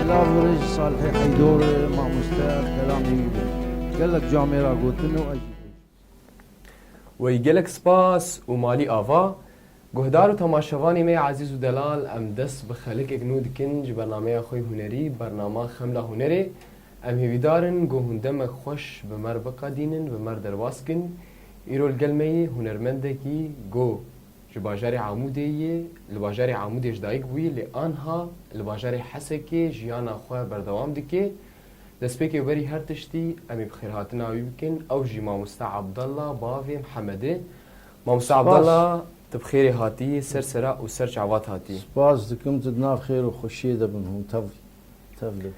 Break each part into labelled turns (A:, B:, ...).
A: Silav li rêj Salihê Heydor e, mamoste ev kelamê wî bû. Gelek ca me ra gotin û ez jî pê jî. Wey
B: gelek spas û malî ava. Guhdar û temaşevanê me ezîz û delal em dest bi xelikek nû dikin ji bernameya xwe hûnerî Bernama Xemla Hûnerê. Em hêvîdar in ku hûn demek xweş bi me re biqedînin, bi me re derbas bikin. Îro li gel me yê hûnermendekî ku. Ji bajarê Amûdê ye, li bajarê Amûdê ji dayik bûye lê anha li bajarê Hesekê jiyana xwe berdewam dike. Destpêkê werî her tiştî em ê bi xêrhatina wî bikin, ew jî Mamoste Abdalla bavê Mihemedê. Mamoste Abdalla tu bi xêrê hatî ser sera û ser çavat hatî. Spas dikim tu di
A: nav xêr û xweşiyê de bin hûn tevli.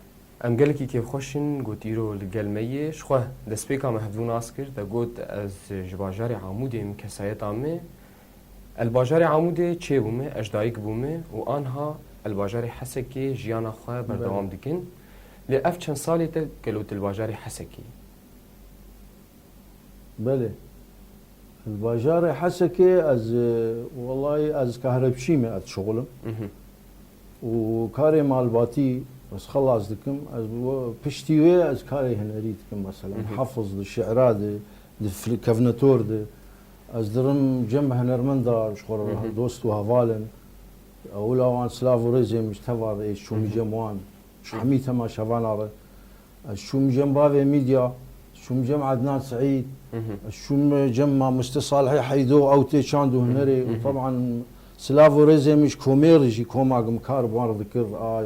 A: Em gelekî
B: kêfxweş in, got îro li gel me yê. Ji xwe destpêka me hevdû nas kir. Te got ez ji bajarê Amûdê im, kesayeta me e li bajarê Amûdê, çê bû me, ez dayik bû me û anha li bajarê Hesekê jiyana xwe berdewam dikin. Lê ev çend salê te gelo tu li bajarê Hesekê yî?
C: Belê. Li bajarê Hesekê ez, welayî ez kahrepçî me, ez dişuxulim. Û karê malbatî ez xelas dikim. Ez piştî wê ez karê hunerî dikim. Mesela di hefiz di, şîira di, di kevnetor di. Ez dirim cem hunermenda ji xwe re dost û heval in. Ewila wan silav û rêzê min ji te va re ê, ji çomî cem wan, ji hemî tema şevana re. Ez çûm cem bavê Mîdya, ez çûm cem Ednan Seîd, ez çûm cem Mamoste Salihê Heydo, ew tê çand û hunerê û teban silav û rêzê min ji komê re jî, koma min kar bi wan re dikir a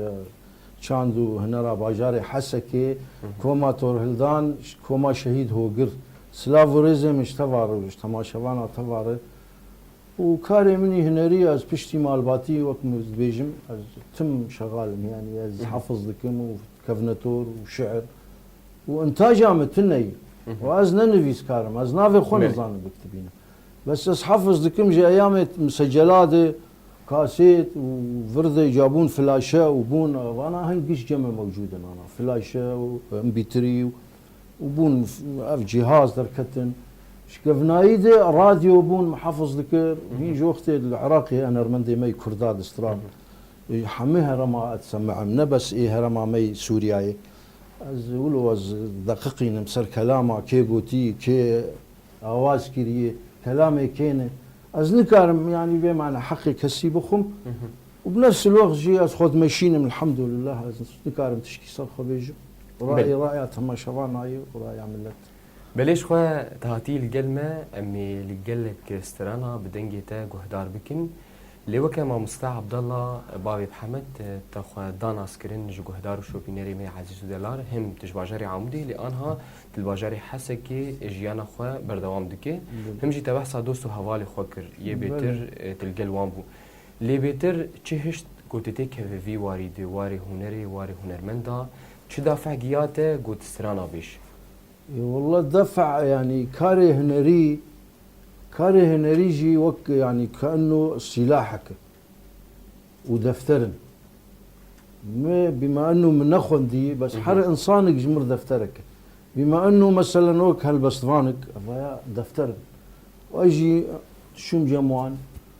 C: çand û hunera bajarê Hesekê, koma Torhildan, koma Şehîd Hogir. Silav û rêzê min ji teva re û ji temaşevana teva re. Û karê min î hunerî ez piştî malbatî wek min dibêjim ez tim şegal im yanî ez hefiz dikim û kevnetor û şiir û intaja min tune yî û ez ne nivîskar im ez navê xwe nizanim bikitibînim bes ez hefiz dikim ji eyamê misecela de kasêt û vir de ca bûn flaşe û bûn vana hin giş cem e mewcûd in ana flaşe û mpîtirî û û bûn ev cîhaz derketin. Ji kevnayî de radyo bûn mihafiz dikir û hîn ji wextê di li Iraqê heye nermendê me yê Kurda di stran ê hemû herema ez semeim ne bes ê herema me yê Sûriyayê. Ez wilo ez deqiqînim ser kelama kê gotî, kê awaz kirî, kelamê kê ne. Ez nikarim yanî vê mane heqê kesî bixwim. Û bi nefsî lûx jî ez xwe dimeşînim elhamdûlillah ez nikarim tiştî ser xwe bêjim. Rayê raya temaşevana ye û raya milet. Belê ji xwe
B: te hatiyî li gel me em ê li gelek strana bi dengê te guhdar bikin. Lê weke mamoste Abdallah bavê bi Hemed te xwe da naskirin ji guhdar û şopînerê me Ezîzû Delar him tu ji bajarê Amûdê lê anha tu li bajarê Hesekê jiyana xwe berdewam dike him jî te behsa dost û hevalê xwe kir yê bêtir tu li gel wan bû. Lê bêtir çi hişt ku tu tê kevî vî warî di warê hunerê, warê hunermend da çi dafe'h giya te ku tu strana bêj? Walla
C: dafe'h yanî karê hunerî, karê hunerî jî wek yanî keenno sîlahek e û defter in. Mi bîma enno min nexwendî bes her însanik ji mir defterek e. Bîma enno meselen wek helbestvanik evaya defter in. Wayjî şûmcem wan.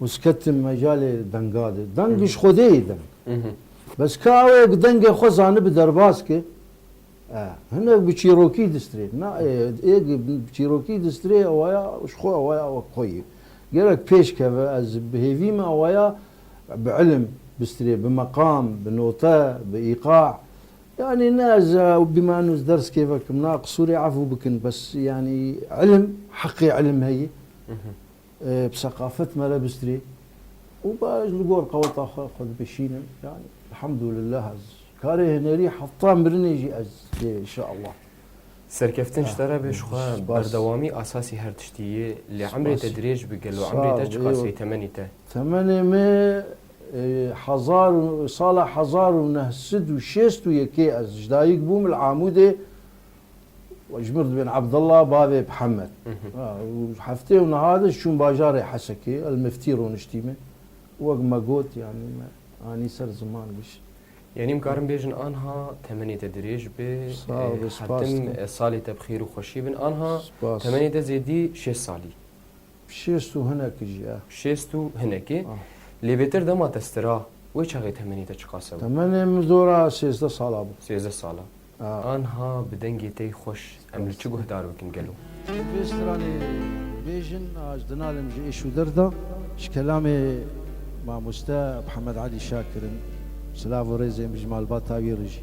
C: Uz ketim mecalê denga de. Deng ji Xwedê yê deng. Bes ka ew ê ku dengê xwe zanibi derbas ke, hinek bi çîrokî distirê. Na ê ê ku bi çîrokî distirê ewaya ji xwe ewaya wek xwe yê. Gerek pêş keve ez bi hêvî me ewaya bi ilim bistirê, bi meqam, bi note, bi îqa. Yanî ne ez ew bîme eno ez ders kêve kim. Na qisûrê efû bikin bes yanî ilim heqê ilim heye. Bi seqafet me re bistîrê û ba ez li gor qeweta xwe xwe dibişînim. Yanî elhamdûlillah ez karê hunerî hefta mirinê jî ez dê inşallah. Serkeftin
B: ji te re be ji xwe berdewamî esasî her tiştî yê. Lê emrê te dirêj bi gelo emrê te çi qasî ye temenî te? Temenê me
C: hezar û sala hezar û neh sed û şêst û yekê ez ji dayik bûm li Amûdê. Jmir dibên Abdullah bavê Bihemed. Heftê û niha de çûm bajarê Hesekê, El Miftî roniştî me. Wek me got yanî me anî ser ziman gişt. Yanî em karin
B: bêjin anha temenê te dirêj be. Sağ ol, spas dikim. Hetim ez salê te bi xêr û xweşî bin. Anha temenê te zêdî şêst salî. Şêst
C: û hinekî jî ya. Şêst û hinekî.
B: Lê bêtir dema te stira wê çaxê temenê te çiqas e? Temenê min zora
C: sêzdeh sala bû. Sêzdeh sala.
B: Anha bi dengê tey xweş em li çi guhdar bikin gelo? Di vê stranê
C: bêjin a ji dinalim ji êş û der de ji kelamê mamoste Mihemed Elî Şah kirin. Silav û rêzên bi ji malbata wî re jî.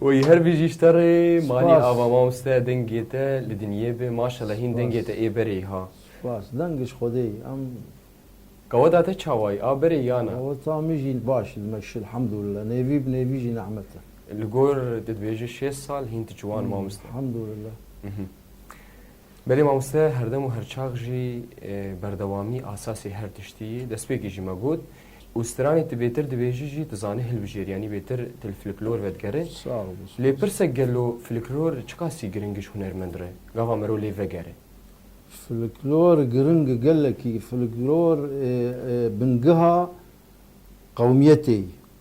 B: Oy her bîjî ji te rê malî ava mam ste
C: dengê
B: te li dinyê be maşallah hîn dengê te ê berê ha. Spas deng ji
C: xwedê em. Gaweda
B: te çawa ye a berê ya na? Gaweda min jî baş
C: li me şil hemdûlillah nêvî bi nêvî jî nehmet e. Li gor tu
B: dibêje şêst sal hîn tu ciwan mam ste. Hemdûlillah. Belê mamoste herdem û herçax jî berdewamî asasê her tiştî yî. Destpêkê jî me got û stranê tu bêtir dibêjî jî tu zanî hilbijêr yanî bêtir tu li fliklor vedigere. Lê
C: pirsek gelo
B: fliklor çiqasî giring e ji hunermend re? Gava mero lê vegere. Fliklor
C: giring e gelekî. Fliklor bingiha qewmiyetê yî.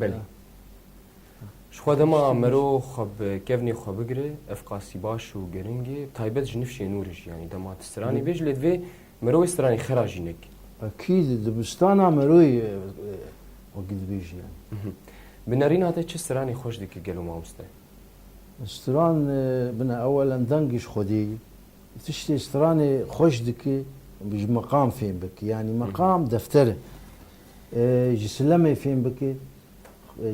C: Belê.
B: Ji xwe dema merov xwe bi kevnê xwe bigire, ev qasî baş û giring e, taybet ji nifşê nû re jî yanî dema tu stranê bêj lê divê merovê stranê xera jî neke. Akî di
C: dibistana meroyê wekî dibêjî yanî. Bi nerîna te
B: çi stranê xweş dike gelo mamoste? Stran
C: bina ewelen dengê ji Xwedê ye. Tiştê stranê xweş dike ji meqam fêm bike. Yanî meqam defter e. Ji silemê fêm bike,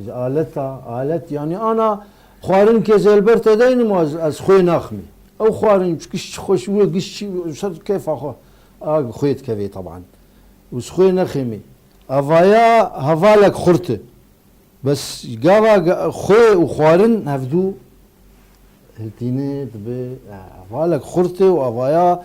C: ji aleta, alet yanî ana xwarin ke ez li ber te dayînim û ez ez xwê naximê. Ew xwarin çi giş çi xweş wê giş çi ser keyfa xwe a xwê dikevê teban. Û ez xwê nexêmê. Evaya hevalek xurt e. Bes gava xwê û xwarin hevdû hiltîne dibe hevalek xurt e û evaya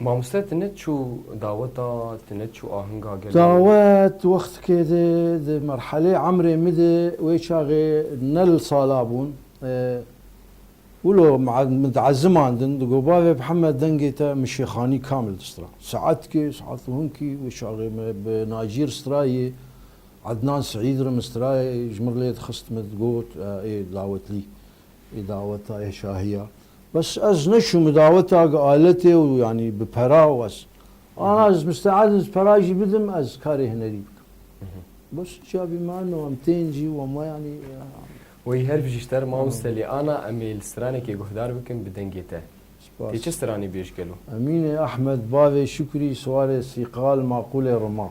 B: Mamoste tu ne çû daweta, tu ne çû ahinga gelo. Dawet wextikê
C: de di merhelê emrê mi de wê çaxê ne li sala bûn. Wilo min diezimandin digo bavê Mihemed dengê te min şêxanî kamil distira. Saetkê, saet û hinkî wê çaxê mi bi Nacîr stirayê, Ednan Seîd re min stirayê ji min lê dixist min digot ê dawetlî, ê daweta, ê şahiya. Bes ez neçûm bi daweta gi aletê û yanî bi pera û ez ana ez misteed im ez pera jî bidim ez karê hinerî bikim. Bes cavî me no em tên jî û me yanî. Wey her
B: bijî Şter mamoste lê ana em ê li stranekê guhdar bikim bi dengê te. Tê çi stranê bêj gelo. Emînê Ehmed
C: bavê Şukrî siwarê sîqal maqûlê riman.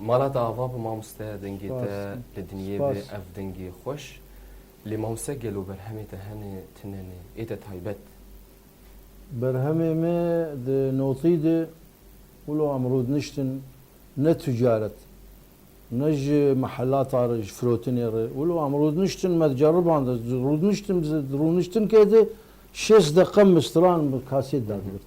B: Mala te ava bi mamoste dengê te li dinyê be ev dengê xweş lê mamoste gelo berhemê te hene tune ne ê te taybet.
C: Berhemê me di notî de wilo em rûdniştin ne ticaret ne ji mehelata re ji firotinê re wilo em rûdniştin me ceriband ez rûdniştim di rûniştinke de şêst deqe mi stran bi kasêt da digirt.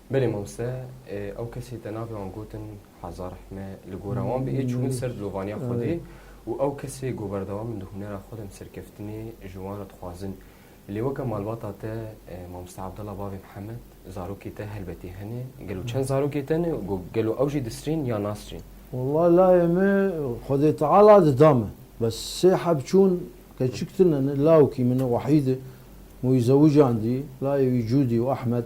C: Belê
B: mamoste, ew kesê te navê wan gotin Hezar Hme, li gora wan bi ê çûbin ser dilovaniya Xwedê û ew kesê ku berdewam in di hunera xwe de em serkeftinê ji wan re dixwazin. Lê weke malbata te mamoste Abdallah bavê Mihemed, zarokê te helbetî hene, gelo çend zarokê te ne û gelo ew jî disrîn yan nasrîn? Wellahî layê
C: me Xwedê Teala dida min. Bes sê heb çûn keçik tune ne, lawikî min e Wehîdê, mûyî zewicandî, layê wî Cûdî û Ehmed,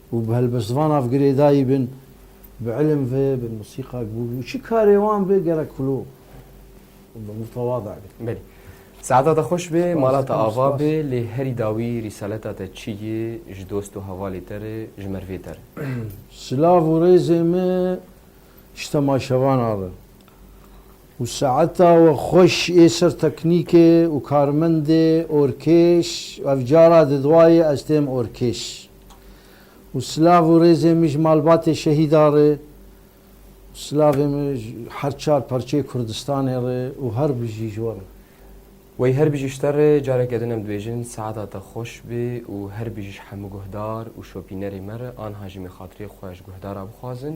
C: Û bi helbestvana vgirêdayî bin, bi ilim ve, bi musîqa bi û çi karê wan be gerek xulu û bi mutewada be. Belê.
B: Saeta te xweş be, mala te ava be, lê herî dawî rîsaleta te çi ye ji dost û hevalê te re, ji mervê te re. Silav
C: û rêzê me ji temaşevana re û saeta we xweş ê ser teknîkê û karmendê orkêş, ev cara di dwa ye ez têm orkêş. û silav û rêzên min ji malbatê şehîdan re û silavên min ji her çar parçeyê Kurdistanê re û her bijî ji wan. Wey
B: her bijî ji te re careke din em dibêjin saeta te xweş be û her bijî ji hemû guhdar û şopînerê me re anha jî min xatirê xwe ji guhdara bixwazin